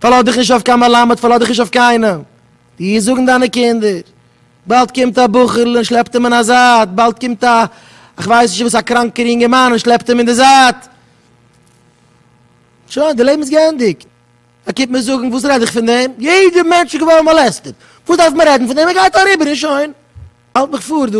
פארלאז דיך נישט אויף קיין מלמד, פארלאז דיך נישט אויף קיינעם. דיר זאגן דיינע קינדער, באלד קומט א בחור'ל און שלעפט אים אין א זייט, באלד קומט א איך ווייס נישט וואס א קראנקער יונגערמאן און שלעפט אים אין די זייט. שוין, די לעבן איז געענדיגט. ער קומט מיר זאגן, וואס רעד איך פון דעם? יעדער מענטש איז געווארן מאלעסטעד. וואס דארף מען רעדן פון דעם? ער גייט אריבער און שוין. האלט מיך פאר דא.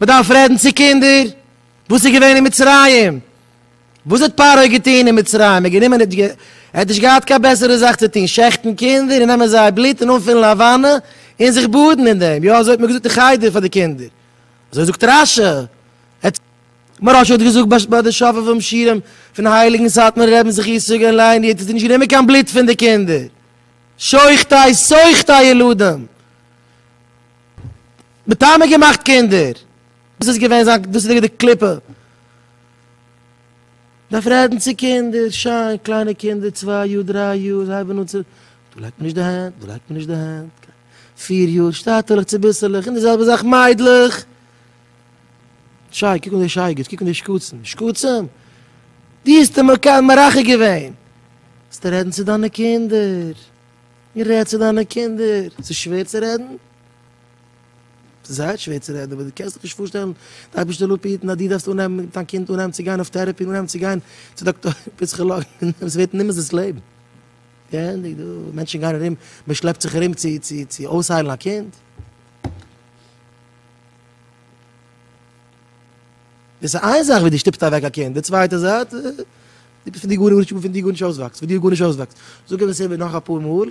מען דארף רעדן צו קינדער, וואס איז געווען אין מצרים? וואס האט פרעה געטון אין מצרים? ער האט גענומען, ער האט נישט געהאט קיין בעסערע זאך צו טון, שעכטן קינדער און נעמען זייער בלוט און אנפילן א וואנע און זיך באדן אין דעם, יא אזוי האט מען געזאגט אין חדר פאר די קינדער, אזוי זאגט רש י. מוהרא ש האט געזאגט ביי די שובבים שירים פון הייליגן סאטמארער רב זכות יגן לעד יתד איז נישט גענומען קיין בלוט פון די קינדער, שוחטי סוחטי ילדים. מטעמים געמאכט קינדער, דאס איז געווען זיין דאס איז די קליפה, מ'דארף רעדן צו קינדער שיין, קליינע קינדער צוויי יאר דריי יאר זיי הייבן אן צו, דא לייגט מען נישט די הענט, דא לייגט מען נישט די הענט, פיר יאר שטאטעלעך צוביסעלעך, און די זעלבע זאך מיידלעך, שיי קוק אן די שייגעץ, קוק אן די שקצים, שקצים? דו האסט אים מרחק געווען, זאלסטו רעדן צו דיינע קינדער. רעד צו דיינע קינדער, ס'איז שווער צו רעדן, ס'איז זייער שווער צו רעדן, אבער דו קענסט דיך נישט פארשטעלן, די אייבערשטער זאל אפהיטן אז דו דארפסט אנהייבן מיט דיין קינד אנהייבן צו גיין אויף טערעפי, אנהייבן צו גיין צו דאקטוירים, פסיכאלאגן, עס ווערט נמאס דאס לעבן, געענדיגט דא, מענטשן גייען ארום, מען שלעפט זיך ארום צו אויסהיילן א קינד. דאס איז איין זאך ווי דו שטופסט אוועק א קינד, די צווייטע זייט, דו ביסט פון דיר גארנישט אויסוואקס, פון דיר גארנישט אויסוואקס, זאג אים עס איבער נאך אפאר מאל.